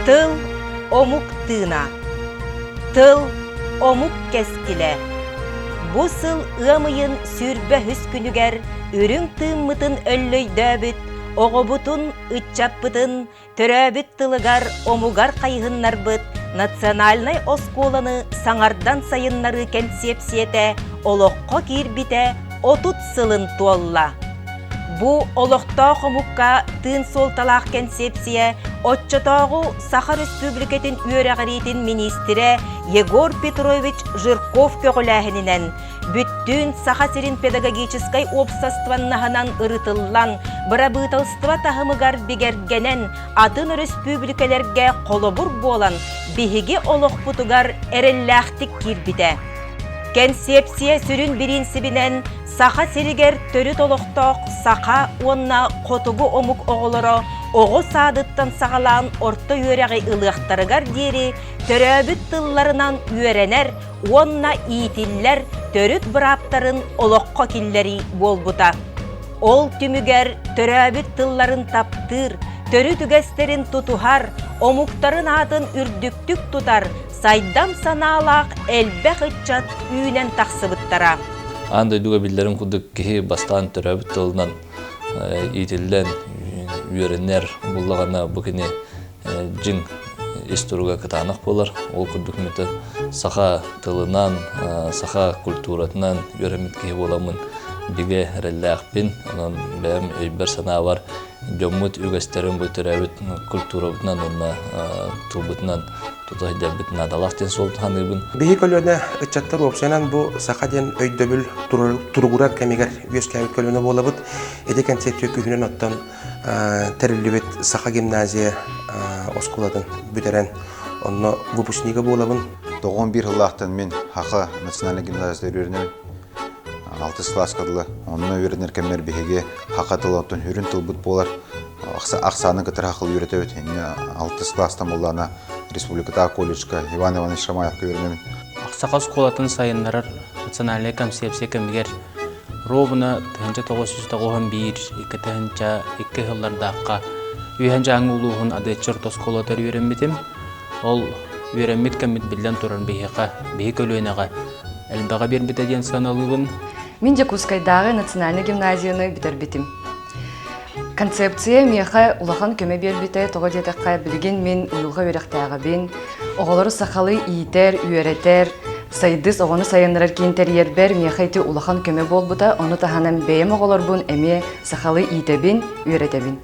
Тыл омук тыына Тыл омук кэскилэ Бу сыл ыам ыйын сүүрбэ үһүс күнүгэр үрүҥ тыыммытын өллөйдөөбүт оҕобутун, ыччаппытын төрөөбүт тылыгар, омугар хайыһыннарбыт национальнай оскуоланы саҥардан сайыннарыы кэнсиэпсийэтэ олоххо киирбитэ отут сылын туолла. Бу олохтоох омукка тыын суолталаах кэнсиэпсийэ оччотооҕу Саха Республикатын үөрэҕириитин миниистирэ Егор Петрович Жирков көҕүлээһининэн Бүттүүн Саха сирин педагогическай уопсастыбаннаһынан ырытыллан, бырабыыталыстыба таһымыгар бигэргэнэн, атын өрөспүүбүлүкэлэргэ холобур буолан, биһиги олохпутугар эрэллээхтик киирбитэ. Кэнсиэпсийэ сүрүн бириинсибинэн Саха сиригэр төрүт олохтоох саха уонна хотугу омук оҕолоро оҕо саадыттан саҕалаан орто үөрэҕи ылыахтарыгар диэри төрөөбүт тылларынан үөрэнэр уонна иитиллэр төрүт бырааптарын олоххо киллэрии буолбута. Ол түмүгэр төрөөбүт тылларын таптыыр, төрүт үгэстэрин тутуһар, омуктарын аатын үрдүктүк тутар сайдам санаалаах элбэх ыччат үүнэн тахсыбыттара. Аан дойдуга биллэрин курдук киһи бастаан төрөөбүт тылынан иитиллэн үөрэнэр буллаҕына бу кини дьиҥ ис туруга кытаанах буолар. Ол курдук мүтө саха тылынан, саха культуратынан үөрэммит киһи буоламмын бигэ эрэллээхпин. Онон бэйэм өйбөр-санаабар дьоммут үгэстэрин бу төрөөбүт культурабытынан уонна тылбытынан тута өйдөбүт наадалаах диэн суол саныыбын. Биһи көлүөнэ ыччаттар уопсайынан бу саха диэн өйдөбүл туругурар кэмигэр үөскээбит көлүөнэ буолабыт. Ити кэнсиэттиэ күһүнүн оттон тэриллибит Саха гимназия оскуолатын бүтэрэн онно выпускнига буолабын. Тоҕуон биир сыллаахтан мин Хаха национальнай гимназияда үөрэнэбин. Алтыс класска дылы онно үөрэнэр кэммэр биһиги Хаха тыл оттон үрүн тылбыт буолар ахсааны кытары хахыл үөрэтэбит. Инньэ алтыс класстан буллаана республикатааҕы колледжка Иван Иванович Шамаевка үөрэнэбин. Саха оскуолатын сайыннарар национальнай концепция кэмигэр ровно тыһыынча тоҕус сүүс тоҕуһун биир икки тыһыынча икки сыллардаахха Үһэн Дьааҥы улууһун Адыаччы орто оскуолатыгар үөрэммитим. Ол үөрэммит кэммит биллэн турар биһиэхэ, биһи көлүөнэҕэ элбэҕи биэрбитэ диэн саналыыбын. Мин Дьокуускайдааҕы национальнай гимназияны бүтэрбитим. Концепция миэхэ улахан көмө биэрбитэ, тоҕо диэтэххэ, билигин мин уйулҕа үөрэхтээҕибин. Оҕолору сахалыы иитэр, үөрэтэр, сайдыс оҕону сайыннарар киин тэрийэрбэр миэхэ ити улахан көмө буолбута. Ону таһынан бэйэм оҕолорбун эмиэ сахалыы иитэбин, үөрэтэбин.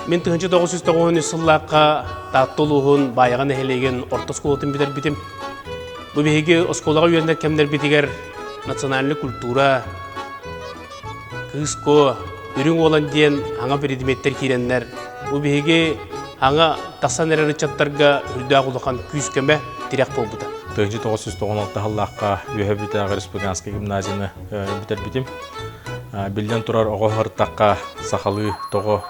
Мин тыһыынча тоҕус жүз тоҕус үс сыллаахха Таатта улууһун Баайаҕа нэһилиэгин орто оскуолатын бүтэрбитим. Бу биһиги оскуолаҕа үөрэнэр кэмнэрбитигэр национальнай культура Кыыско, Үрүҥ уолан диэн хаҥа биридимиэттэр киирэннэр, бу биһиги хаҥа тахсан эрэр ыччаттарга үрдээх улахан күүс-көмө, тирэх буолбута. Тыһыынча тоҕус жүз тоҕон алта сыллаахха Үөһээ Бүтээх республиканскай гимназияны бүтэрбитим. Биллэн турар, оҕо ыртахха сахалыы тоҕо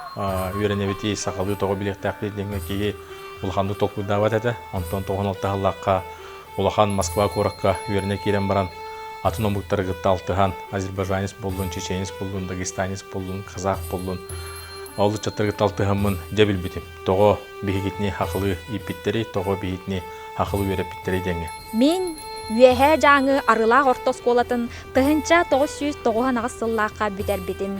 үөрэнэбитий, сахалыы тоҕо билиэхтээхпит диэҥҥэ киһи улаханнык толкуйдаабат этэ. Онтон тоҕон алта сыллаахха улахан Москва куоракка үөрэнэ киирэн баран, атын омуктары кытта алтыһан, азербайджанец буллун, чеченец буллун, дагестанец буллун, казах буллун, ол ыччаттары кытта алтыһаммын дьэ билбитим. Тоҕо биһигитини хахылыы ииппиттэрэй, тоҕо биһигитини хахылыы үөрэппиттэрэй диэҥҥэ. Мин Үөһээ Дьааҥы Арыылаах орто оскуолатын тыһыынча тоҕус сүүс тоҕус аҥаҕас сыллаахха бүтэрбитим.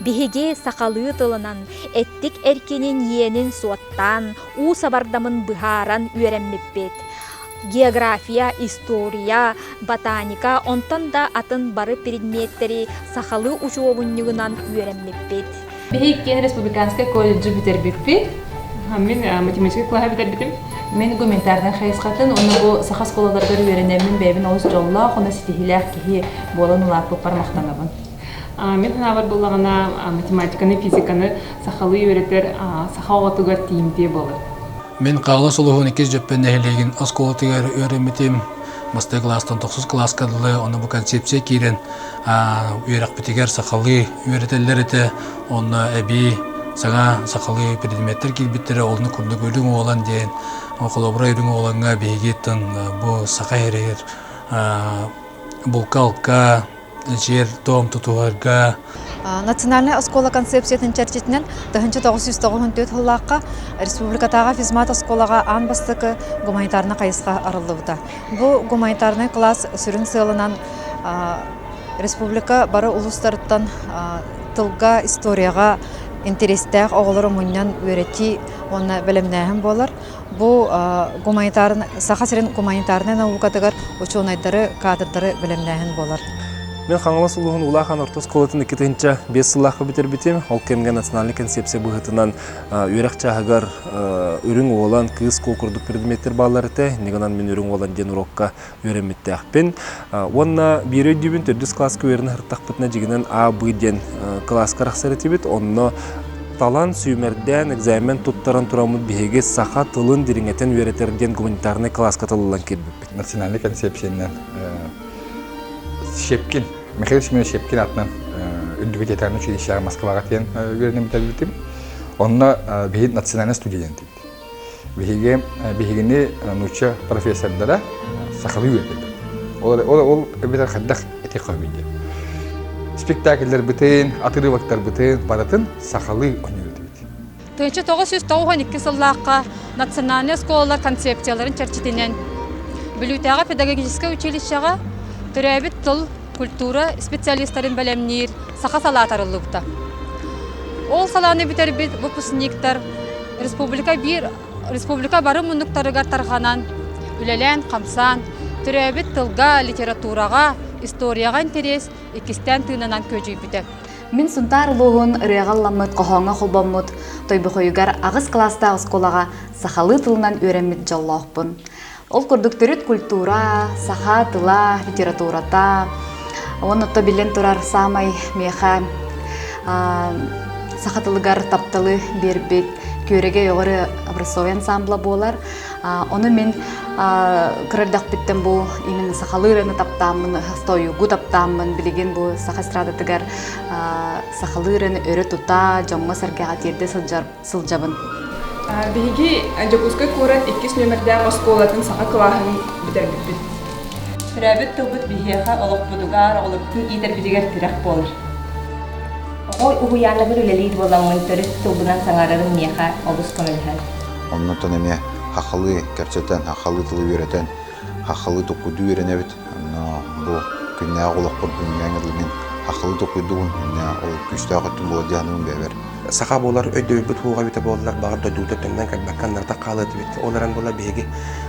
Биһиги сахалыы тылынан эттик эркинин иэнин суоттаан, уу сабардамын быһааран үөрэммиппит. География, история, ботаника, онтон да атын бары предметтэри сахалыы учуобунньугунан үөрэммиппит. Биһи иккиэн республиканскай колледжы бүтэрбиппит. Мин математика кылаһа бүтэрбитим. Мен гуманитарнай хайысхатын уонна бу саха оскуолаларыгар үөрэнэммин бэйэбин олус дьоллоох уонна ситиһиилээх киһи буолан улааппыппар махтанабын. Мин санаабар буоллаҕына, математиканы, физиканы сахалыы үөрэтэр саха оҕотугар тиийимтиэ буолар. Мин Хаҥалас улууһун иккис Дьөппөн нэһилиэгин оскуолатыгар үөрэммитим. Бастакы класстан тохсус класска дылы, оны бу концепция киирэн үөрэхпитигэр сахалыы үөрэтэллэр этэ. Онно эбии саҥа сахалыы предметтэр киирбиттэрэ, олону курдук үрүҥ уолан диэн холобура үрүҥ уолаҥҥа биһиги тын бу саха иһигэр булка-алка дом тутуһарга национальнай оскуола концепциятын чэрчитинэн тыһыынча тоҕус сүүс тоҕус төрт сыллаахха республикатааҕы физмат оскуолаҕа аан бастакы гуманитарнай хайысха арыллыбыта бу гуманитарнай кылаас сүрүн сыалынан республика бары улуустарыттан тылга историяҕа интэриэстээх оҕолору мунньан үөрэтии уонна бэлэмнээһин буолар Бу Саха сирин гуманитарнай наукатыгар учуонайдары, каадырдары бэлэмнээһин буолар. Мен Хаҥалас улууһун Улахан Орто оскуолатын иккитинчэ биэс сыллаахха бүтэрбитим. Ол кэмҥэ национальнай концепция быһыытынан үөрэх чааһыгар үрүҥ уолан, кыыс куо курдук предметтэр бааллар этэ. Иннигинэн мин үрүҥ уолан диэн урукка үөрэммиттээхпин. Уонна биир өйдүүбүн төрдүс класска үөрэнэ сырыттахпытына дьигинэн А, Б диэн класска арахсар этибит. Онно талан, сүүмэрдээн, экзамен туттаран тураммыт биһиги саха тылын дириҥэтин үөрэтэр диэн гуманитарнай класска тыллан киирбиппит. Национальнай концепциянан Щепкин, Михаил Семенович Щепкин атынан үрдүбүт театральнай училищеҕа Москваҕа тиийэн үөрэнэн бүтэрбитим. Онно биһи национальнай студия диэн Биһиги, биһигини нуучча профессордара сахалыы үөрдэллэр. Ол, ол, ол эбэтэр хайдах этиэх хоббийдин. Спектакльларбытын, отырывактарбытын барытын сахалыы өнүрдүбүт. Тыынча тоғыз жүз тоғуһан икки сыллаахха национальный оскуолалар концепцияларын чэрчитинэн Бүлүүтээҕи педагогическай училищеҕа төрөөбүт тыл, культура специалистарын бэлэмниир саха салаата арыллыбыта. Ол салааны бүтэрбит выпускниктар республика биир республика бары муннуктарыгар тарҕанан үлэлээн-хамсаан, төрөөбүт тылга, литератураҕа, историяҕа интэриэс иккистээн тыынынан күөдьүйбүтэ. Мин Сунтаар улууһун ырыаҕалламмыт хоһооҥҥо холбоммут Тойбохойугар аҕыс кылаастаах оскуолаҕа сахалыы тылынан үөрэммит дьоллоохпун. Ол курдук төрүт культура, саха тыла, литературата уонна то биллэн турар саамай миэхэ саха тылыгар тапталы биэрбит күөрэгэй оҕөрү образцовый ансамбла буолар ону мин кырырдахпиттэн бу именно сахалыы ырыаны таптааммын хостойугу таптааммын билигин бу саха эстрадатыгар сахалыы ырыаны өрө тута дьоҥҥо сэргэҕэ тиэрдэ сылдьар сылдьабын. Биһиги Дьокуускай куорат иккис нүөмэрдээх оскуолатын саха кылааһын бүтэрбиппит. Төрөөбүт тылбыт биһиэхэ олохпутугар, олохпутун иитэрбитигэр тирэх буолар. Оҕо уһуйааныбын үлэлиир буоламмын төрүт тылбынан саҥарарым миэхэ олус көмөлөһөр. Оннуктан эмиэ хахалыы кэпсэтэн, хахалыы тылы үөрэтэн, хахалыы туккутуу үөрэнэбит. бу күннээҕи олохпорбун миэҥ ыллыҥын ахылы толкуйдугун ол күүстээх өттүн буолар дьаһаныгын бэйэбэр саха буолар өйдөбүлбүт уоҕа эбитэ буоллар баҕар дойдута төҥнөн көрбөккө аннартан хаалыа этибит ол эрэн буолар биһиги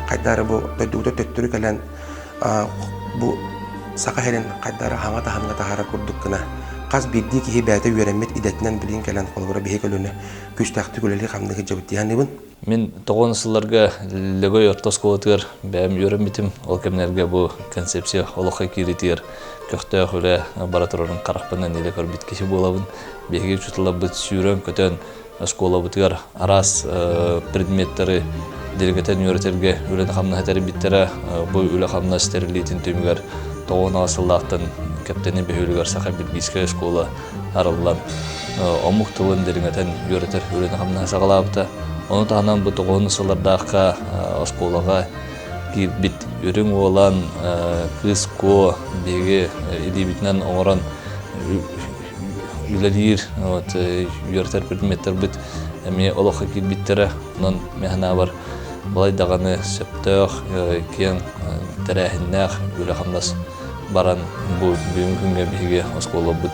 хайдары бу дойдубута төттөрү кэлэн бу саха сирин хайдары хаҥа таһымҥа таһаарар курдук гына хас биирдии киһи бэйэтэ үөрэммит идэтинэн билигин кэлэн холобура биһи көлүнэ күүстээхтик үлэлии хамнык илдьэбит дии саныыбын Мин тоҕуон сылларга Лөгөй орто оскуолатыгар бэйэм үөрэммитим. Ол кэмнэргэ бу концепция олоххо киириитигэр көхтөөх үлэ бара турарын харахпынан илэ көрбүт киһи буолабын. Биһиги учууталларбыт сүүрэн-көтөн оскуолабытыгар араас предметтары диригэтэн үөрэтэргэ үлэни-хамнаһы тэрийбиттэрэ. Бу үлэ-хамнас тэриллиитин түмүгэр тоҕуон аҕыс сыллаахтан Кэптэни бөһүөлүгэр Саха Бельгийскай оскуола арыллан омук тылын дириҥэтэн үөрэтэр үлэни-хамнаһы саҕалаабыта. Ону таһынан бу тоҕуһуннус сыллардаахха оскуолаҕа киирбит үрүҥ уолан кыыс куо биһиги илиибитинэн оҥорон үлэлиир вот, үөрэтэр предметтербит эмиэ олоххо киирбиттэрэ. Онон мэхэнаабар балай даҕаны сөптөөх киэҥ тэрээһиннээх үлэ-хамнас баран бу бүгүҥҥү күҥҥэ биһиги оскуолабыт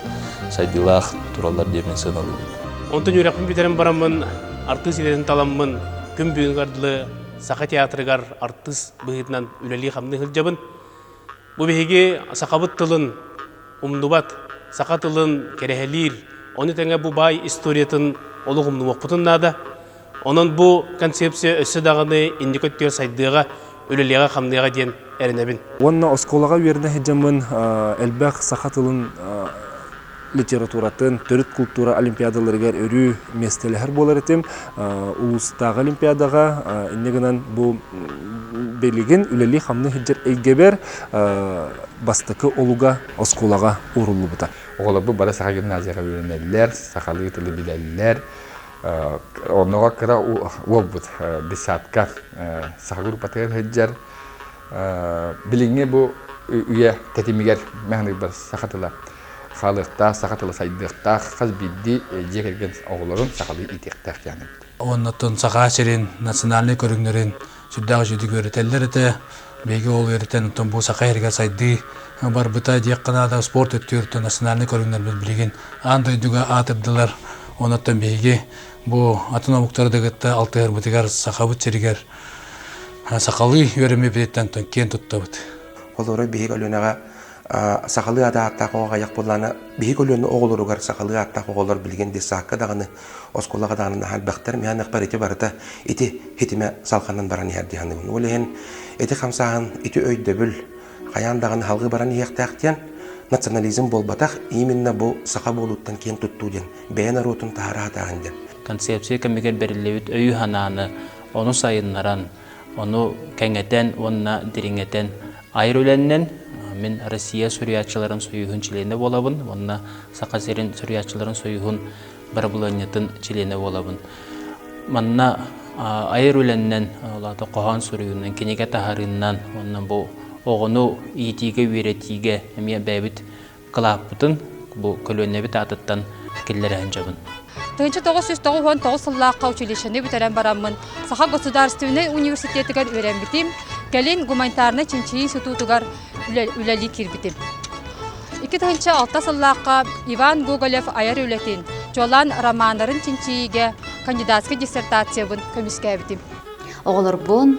сайдыылаах тураллар диэн мин сыаналыыбын. Онтон үөрэхпин бүтэрэн бараммын артыыс идэтин таламмын күн бүгүнүгэр дылы Саха театрыгар артыыс быһыытынан үлэлии-хамныы сылдьабын. Бу биһиги сахабыт тылын умнубат, саха тылын кэрэһэлиир, ону тэҥэ бу баай историятын олох умнубаппытын наада. Онон бу концепция өссө даҕаны инники өттүгэр сайдыаҕа, үлэлиэҕэ-хамныаҕа диэн эрэнэбин. Уонна оскуолаҕа үөрэнэ сылдьаммын элбэх саха тылын литературатын, төрүт култуура олимпиадаларыгар өрүү миэстэлэһэр буолар этим. Улуустааҕы олимпиадаҕа инньэ гынан бу билигин үлэлии-хамныы сылдьар эйгэбэр бастакы олуга оскуолаҕа ууруллубута. Оҕолорбут бары саха гимназияҕа үөрэнэллэр, сахалыы тылы билэллэр, Онуга кыра уолбут десятка саха группатыгар сылдьар. Билиҥҥи бу үйэ тэтимигэр мэхэньиктар саха тыла хаалыахтаах, саха тыла сайдыахтаах, хас биирдии дьиэ кэргэн оҕолорун сахалыы иитиэхтээх диэн эбит. Оннуттан Саха сирин национальнай көрүҥнэрин сүрдээх үчүгэй үөрэтэллэр этэ биһиги ол үөрэтэн оттон бу саха эргэ сайдыы барбыта диэххэ наада спорт өттүгэр национальнай көрүҥнэрбит билигин аан дойдуга аатырдылар онуттан биһиги бу атын омуктары да кытта алтыһарбытыгар сахабыт сиригэр сахалыы үөрэммиппититтэн киэн туттабыт. Холуоруй биһиги Өлүөнэҕэ сахалыы аата ааттаах оҕоҕо хайах буоллаҕына биһи көлүөнэ оҕолоругар сахалыы ааттаах оҕолор билигин дессаакка даҕаны оскуолаҕа даҕаны наһаа элбэхтэр миэнэхпэр ити барыта ити хитимэ салҕанан баран иһэр дии саныыбын ол иһин ити хамсааһын ити өйдөбүл хайаан даҕаны салҕыы баран иһиэхтээх диэн национализм буолбатах именно бу саха буолууттан киэн туттуу диэн бэйэ норуотун таһаара сатааһын диэн концепция кэмигэр бэриллибит өйү-санааны ону сайыннаран Ону кэҥэтэн уонна дириҥэтэн айар үлэннэн мин Россия суруйааччыларын союһун чилиэнэ буолабын уонна Саха сирин суруйааччыларын союһун бырабылыанньатын чилиэнэ буолабын. Манна айар үлэннэн, улаата хоһоон суруйуунан, кинигэ таһарыыннан уонна бу оҕону иитиигэ, үөрэтиигэ эмиэ бэйэбит кылааппытын бу көлүөнэбит аатыттан киллэрэ сылдьабын. Тыһыынча тоҕус сүүс тоҕус уон тоҕус сыллаахха училищены бүтэрэн бараммын Саха государственнай университетыгар үөрэммитим, кэлин гуманитарнай чинчийии институтугар үлэлии киирбитим. Икки тыһыынча алта сыллаахха Иван Гоголев айар үлэтин, чуолаан романнарын чинчийиигэ кандидатскай диссертациябын көмүскээбитим. Оҕолорбун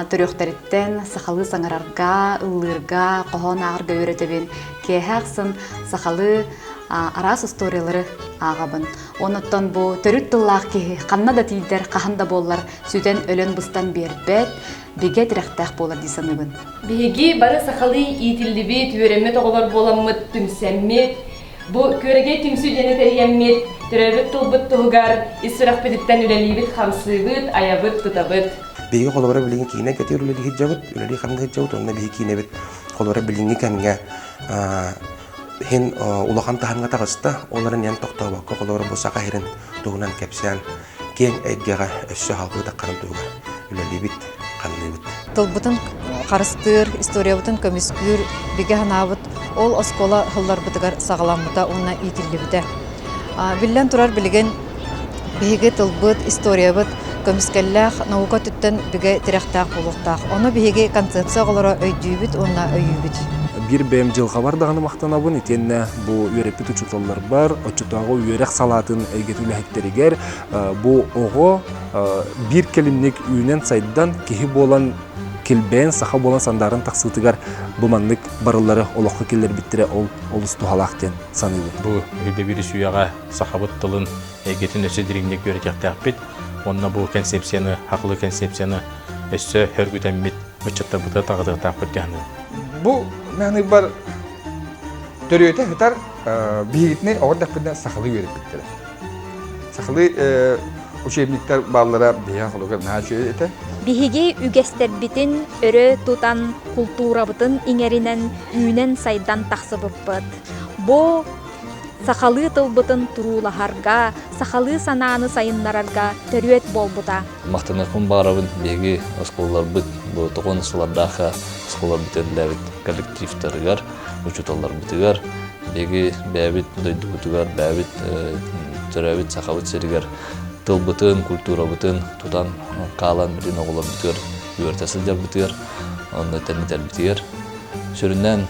төрүөхтэриттэн сахалыы саҥарарга, ыллыырга, хоһоон ааҕарга үөрэтэбин. Киэһэ ахсын сахалыы араас устуоруйалары ааҕабын. Онуттан бу төрүт тыллаах киһи ханна да тиийдэр, хаһан да буоллар сүтэн-өлөн быстан биэрбэт, бигэ тирэхтээх буолар дии саныыбын. Биһиги бары сахалыы иитиллибит, үөрэммит оҕолор буоламмыт, түмсэммит, Бу Күөрэгэй түмсүү диэни тэһийэммит, төрөөбүт тылбыт туһугар ис сүрэхпититтэн үлэлиибит-хамсыыбыт, айабыт-тутабыт. Биһиги холобура билиҥҥи киинэ көтүөр үлэлии сылдьабыт, үлэлии хамныы сылдьабыт, онно биһиги киинэбит холобура билиҥҥи кэмҥэ иһин улахан таһымҥа таҕыста. Ол эрэн эн тохтообокко холобура бу Саха иһирин туһунан кэпсээн киэҥ эйгэҕэ өссө халбыытаххарын туһугар үлэлиибит, ханныыбыт. Тылбытын харыстыыр, историябытын көмүскүүр бигэ санаабыт ол оскуола сылларбытыгар саҕаламмыта уонна иитиллибитэ. Биллэн турар билигин биһиги тылбыт, историябыт көмүскэллээх наука өттүттэн бигэ тирэхтээх буолуохтаах. Ону биһиги концепция оҕолоро өйдүүбүт уонна өйүүбүт. Биир бэйэм дьылҕабар даҕаны махтанабын итиэннэ бу үөрэппит учууталларбар оччотооҕу үөрэх салаатын эйгэтин үлэһиттэригэр бу оҕо биир кэлимник үүнэн-сайдан киһи буолан килбэйэн саха буолан сандааран тахсыытыгар бу маннык барыллары олоххо киллэрбиттэрэ ол олус туһалаах диэн саныыбын. Бу өйдөбүл үсүйэҕэ сахабыт тылын эйгэтин өссө дириҥник үөрэтиэхтээхпит. Онно бу концепцияны, хахлы концепцияны өссө өргүтэммит ыччаттарбыта таҕытыахтаахпыт дьаһаныа. Бу маныгар төрүөтэ сытар биһигитини оҕо эрдэхпинэ сахалыы үөрэппиттэрэ. Сахалыы учебниктар бааллара биһиги холуга наһаа үчүгэй этэ. Биһиги үгэстэрбитин өрө тутан, култуурабытын иҥэринэн үүнэн-сайдан тахсыбыппыт. Бу Сахалыы тылбытын туруулаһарга, сахалыы санааны сайыннарарга төрүөт буолбута. Махтаныахпын баҕарабын биһиги оскуолаларбыт тоҕуонна сылардаахха оскуола бүтэриллээбит коллективтарыгар, учууталларбытыгар, биһиги бэйэбит дойдубутугар, бэйэбит төрөөбүт Сахабыт сиригэр тылбытын, культурабытын тутан хаалан бүтүн оҕолорбутугар үөрэтэ сылдьарбытыгар, онно тэрнитэрбитигэр. Сүрүннээн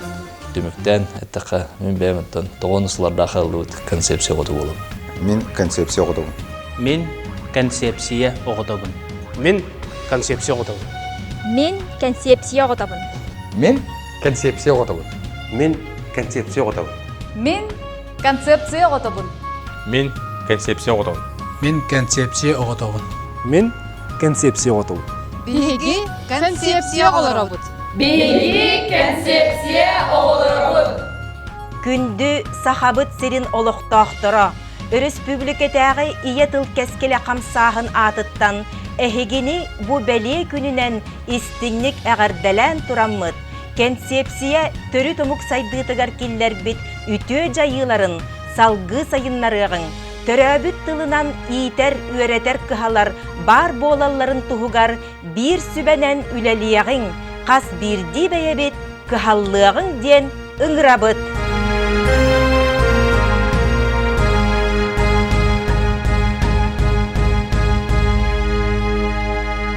Түмүктээн эттэххэ, мин бэйэм оттон тоҕуону сылардаах ыллыбыт концепция оҕото буолабын. Мин концепция оҕотобун. Мин концепция оҕотобун. Мин концепция оҕотобун. Мин концепция оҕотобун. Мин концепция оҕотобун. Мин концепция оҕотобун. Мин Концепция оҕотобун. Мин концепция оҕотобун. Мин концепция оҕотобун. Мин концепция оҕотобун. Биһиги концепция оҕолоробут. Биһиги концепция оҕолоробут. Күндү Сахабыт сирин олохтоохторо, өрөспүүбүлүкэтээҕи ийэ тыл кэскилэ хамсааһын аатыттан эһигини бу бэлиэ күнүнэн истиҥник эҕэрдэлээн тураммыт Кэнсиэпсийэ төрүт омук сайдыытыгар киллэрбит үтүө дьайыыларын салгыы сайыннарыаҕыҥ, төрөөбүт тылынан иитэр-үөрэтэр кыһалар баар буолалларын туһугар биир сүбэнэн үлэлиэҕиҥ, хас биирдии бэйэбит кыһаллыаҕыҥ диэн ыҥырабыт!